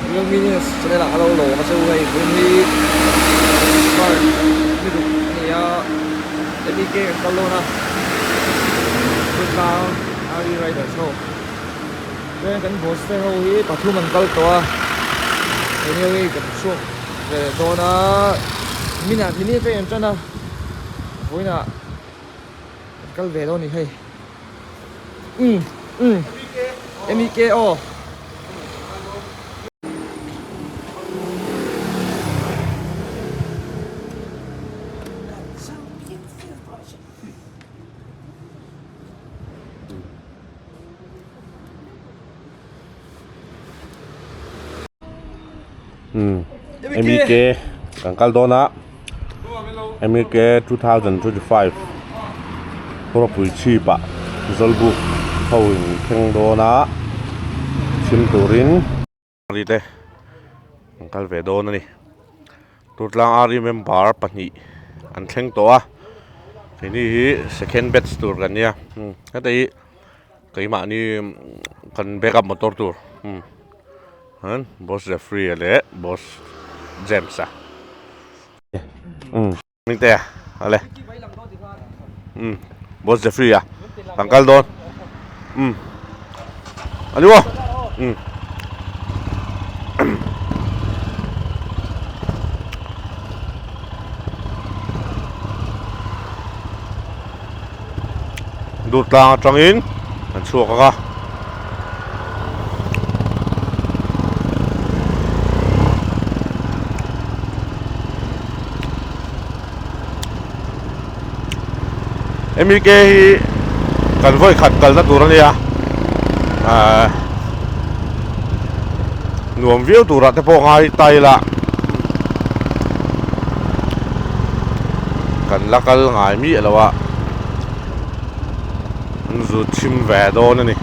Luminous channel ah ka lo lawm a chu hei hun hi smart mirup a ni a MEK kan kal dawn a chu tlang Ari Riders ho chuan kan boss te ho hi pathum an kal tawh a englo hi kan chhuak ve leh dawn a min ah min hi ka en tan a vawiin ah. Kan kal ve lo ni hei. Umm umm. Emi ke aw. MEK kan kal dawn a MEK 2025 Khawrapui chhip ah Zawlbuk ho in thleng dawn a chhim turin te kan kal ve dawn a ni. Tûrtlang Army member pahnih an thleng tawh a, keini hi second batch tûr kan nia, umm heta hi keimahni kan backup motor tûr umm umm Boss Jeffrey a leh Boss James a umm hmingte a le umm. Boss Jeffrey a kan kal dawn um ani wa um dur tlang atangin kan chhuak a ka MEK hi kan vawi khat kalna tur a nia ahh nuam viau turah te pawh ngai tile a kan la kal ngai miah lo a an zut chhim ve dawn a ni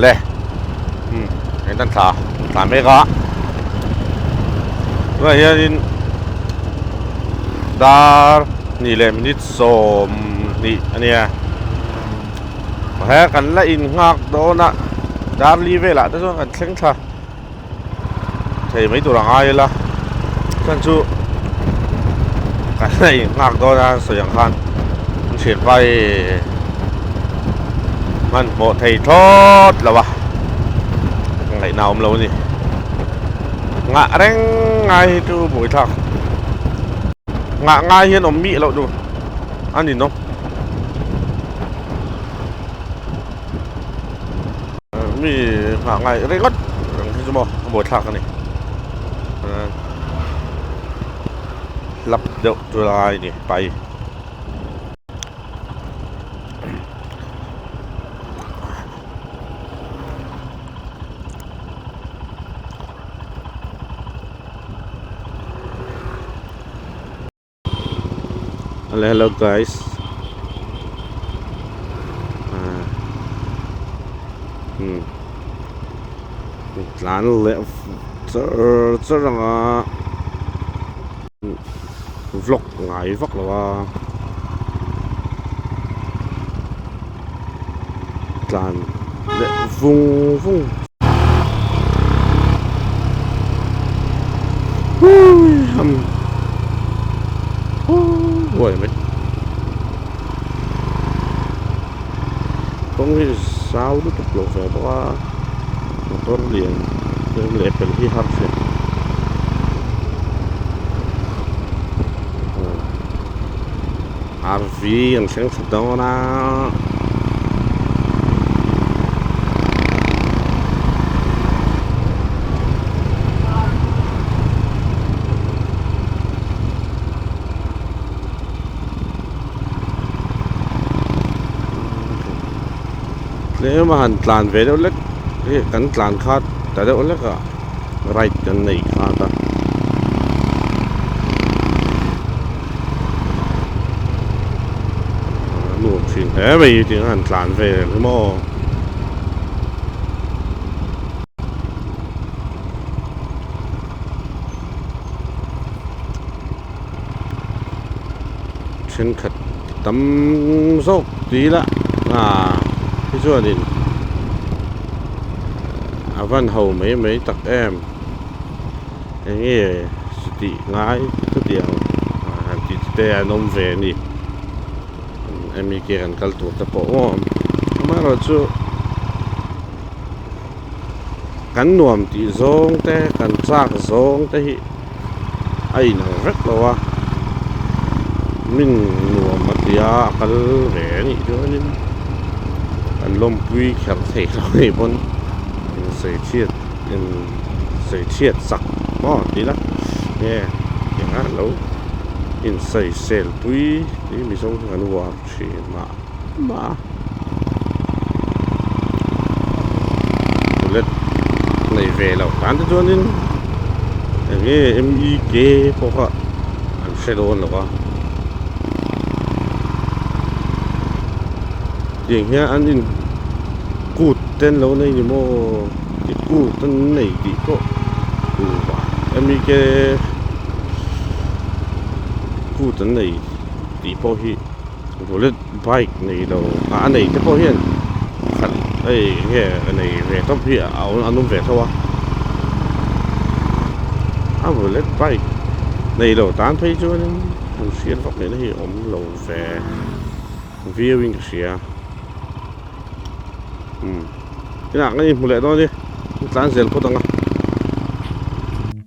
le hmm en tan thla thla mek a tunah hianin dar hnih leh minute -- sawm hnih a nia. He kan la in nghak dawn a Darli velah te chuan kan thleng thla thei mai tur a ngai ila chuan chu kan la in nghak dawn a sawi ang khan Thianpa hi man hmawh thei thlawt lo a ngaihna awm lo a ni ngah reng ngai hi chu buaithlak ngah ngai hian awm mih loh nu a ni nawm mi ngah ngai ringawt ang hi chu maw a bawi thlak a ni lap deuh tu lai ni pai Hello hello guys ah hmm tlan le char char ang a vlog ngai vak lo a tlan leh vung vung hui ham hu huai mai kawng hi zau lutuk lo ve bawk a motor lian vel leh fel hi har fek a ni. Harvey an thleng tha dawn a tlem a han tlan ve deuh lek kan tlan kha ta deuh lek a. right kan nei khat a a nuam thin hle mai hi tiang an tlan ve reng hi maw thenkhat tam zawk tui la ah hi chuanin a van ho mai mai tak em eng nge chutih ngai chutiang ah tih te te an awm ve a ni mi ke kan kal tur te pawh maw amaherawhchu. kan nuam tih zawng te kan chak zawng te hi a inang vek lo a min nuam a tia a kal ve a nih chuan in kan lawmpui kher thei lo ni pawn in sawi chhiat in sawi chhiat sak maw tih la nge engah lo in sawi sel pui tih mizo hi kan uar thin a. bullet nei ve lo tan te chuanin eng nge mi ke pawh kha an hre dawn lo va tiang hian an in kut te an lo nei ni maw i kut an nei tih pawh mi ke kut an nei tih pawh hi. Bullet bike nei lo a nei te pawh hian khat ei nge a nei ve tawp hi a awm an awm ve tho a a bullet bike nei lo tan phei chuanin an hriat vak neihna hi a awm lo ve viewing ka hria umm inah ngaih hmu leh dawn i tlan zel phawt ang a.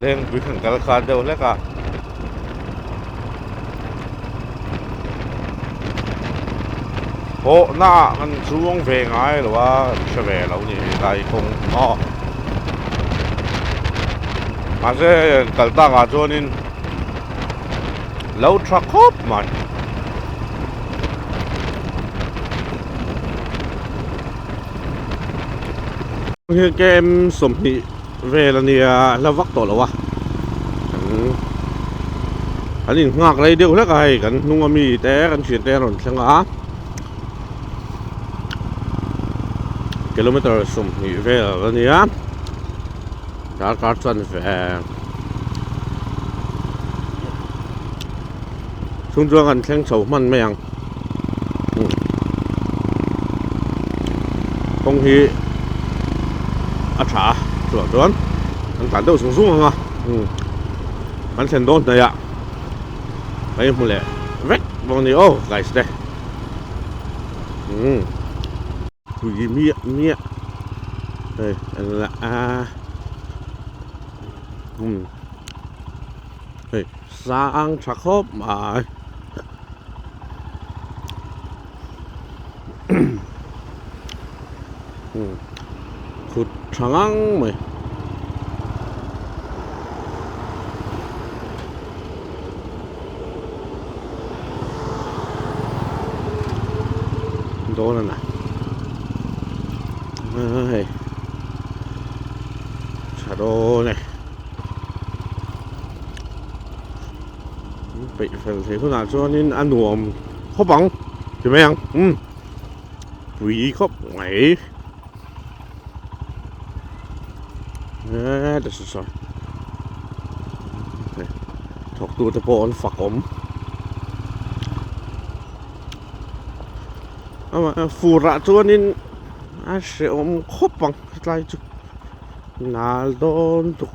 Heng tui kan kal khan deuh hlek a. Hawhna ah kan chuang ve ngai lo a, kan hre ve lo ni lai kawng maw. Mahse kal takah chuanin lo tha khawp mai. Heng kem sawmhnih. Vel a nia a hla vak tawh lo a, kan in nghak rei deuh hlek a hei kan hnung a mi te kan thian te an rawn thleng a, kilometre sawmhnih vel a nia darkar chuan veng. Chung chuan kan thleng chho hman mai ang. Kawng hi a tha a, chuah chuan kan tlan deuh zung zung ang a. Kan thlen dawn hnai a, kan inhmu leh vek bawk a ni aw guys te. Tui miah miah hei a la a um hei sang tha khawp mai um kut tha ngang mai. dawn a la hei tha dawn e peih fel thei hunah chuanin a nuam khawp ang ti mai ang pui khawp mai. eh ta saw thawk tu te pawh an fak awm ama furah chuanin a hreh awm khawp ang tlai chu nal dawn tuk.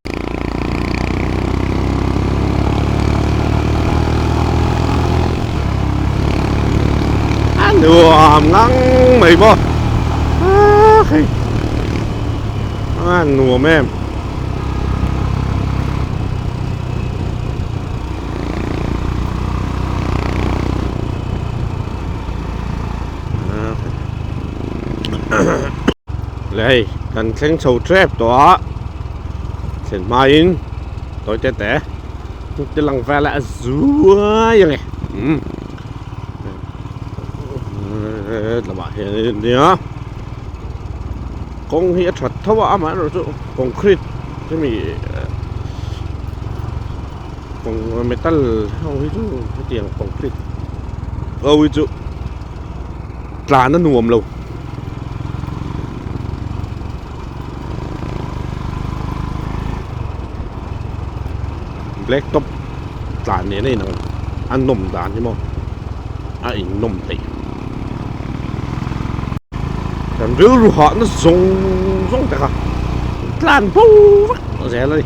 nuam ngang mai bawk a nuam em Leh hei kan thleng chho tep tawh a thlen hmain toite te te lang vel a zuai ang e um tlama hian nia kawng hi a that tho a amah erawh chu concrete hemi kawng metal ho hi chu hetiang concrete ho hi chu Tlan a nuam lo. Black top tlan nena in ang a nawm dan hi maw a in nawm theih. Kan rilru hahna zawng zawng te kha tlan fo vak zel a ni.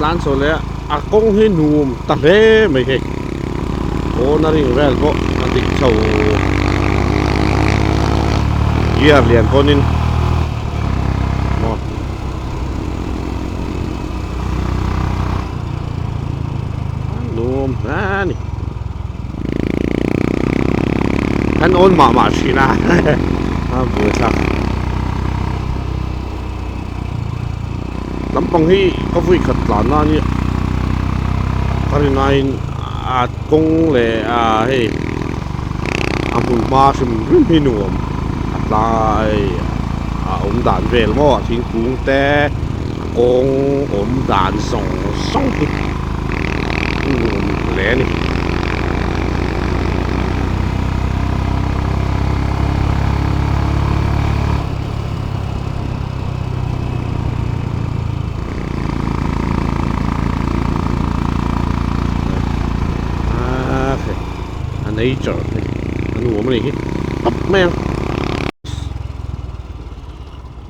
tlan saw leh a kawng hi num ta hle mai hei pawn a ring vel pawh a dik chho gear lian pawn in num hle a ni kan on mah mah thin a a bul thlak lam pang hi ka vui khat tlan na ni ka ri nai in a kawng le a hei a hmun hma hrim hrim hi nuam a tlai a awm dan vel maw a thingkung te kawng awm dan zawng zawng hi a nuam hle a ni. nature hi a nuam a nih hi tawp mai a.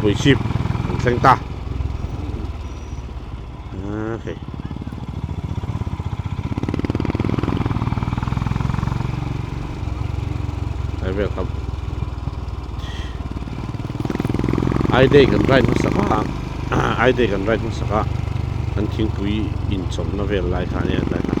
Pui ship an thleng ta a hei ai vel kam ai dei kan rai hmasa kha ai dei kan rai hmasa kha an thingpui in chawmna vel lai kha ania lai kha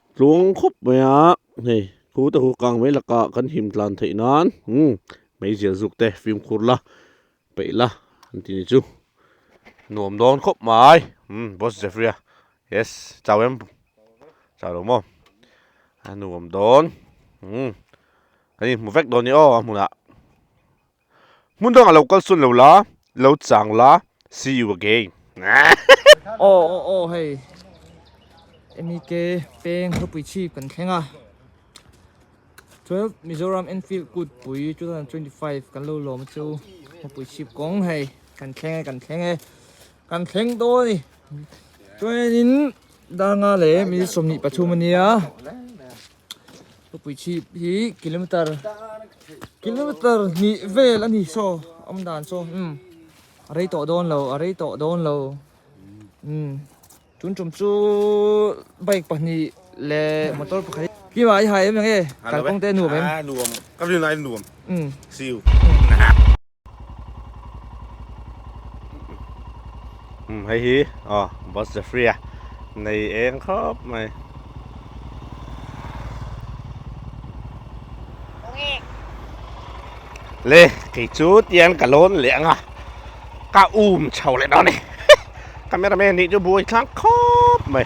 Tlung khawp mai a, hei thu te hu kang mai laka kan him tlan theih nan umm hmeizial zuk te fimkhur la peih la an ti ni chu nuam dawn khawp mai umm boss Jeffrey a yes chau em chau lo maw a nuam dawn umm kan inhmu vek dawn ni aw a hmunah Hmun dang a lo kal sawn lo la, lo chang la, see you again. Aw aw aw hei MEK peng khawpui chhip kan thleng a twelve Mizoram Enfield kut pui two thousand twenty five kan lo lawm a chu khawpui chhip kawng hei kan thleng e kan thleng e kan thleng dawn ni chuan in danga leh mizi sawmnih pathum a nia Puichhip hi kilometer kilometer hnih vel a ni saw awm dan saw um a rei tawh dawn lo a rei tawh dawn lo um tun tum chu bike pahnih leh motor pakhat hi khi mah i hai em eng e kalkawng te nuam em a nuam ka ringai nuam um siu um hei hi a oh, bus the free a nei eng khap mai le kei chu tian ka lon le anga ka um chho le đó này cameraman ni chu buai thlang khop mai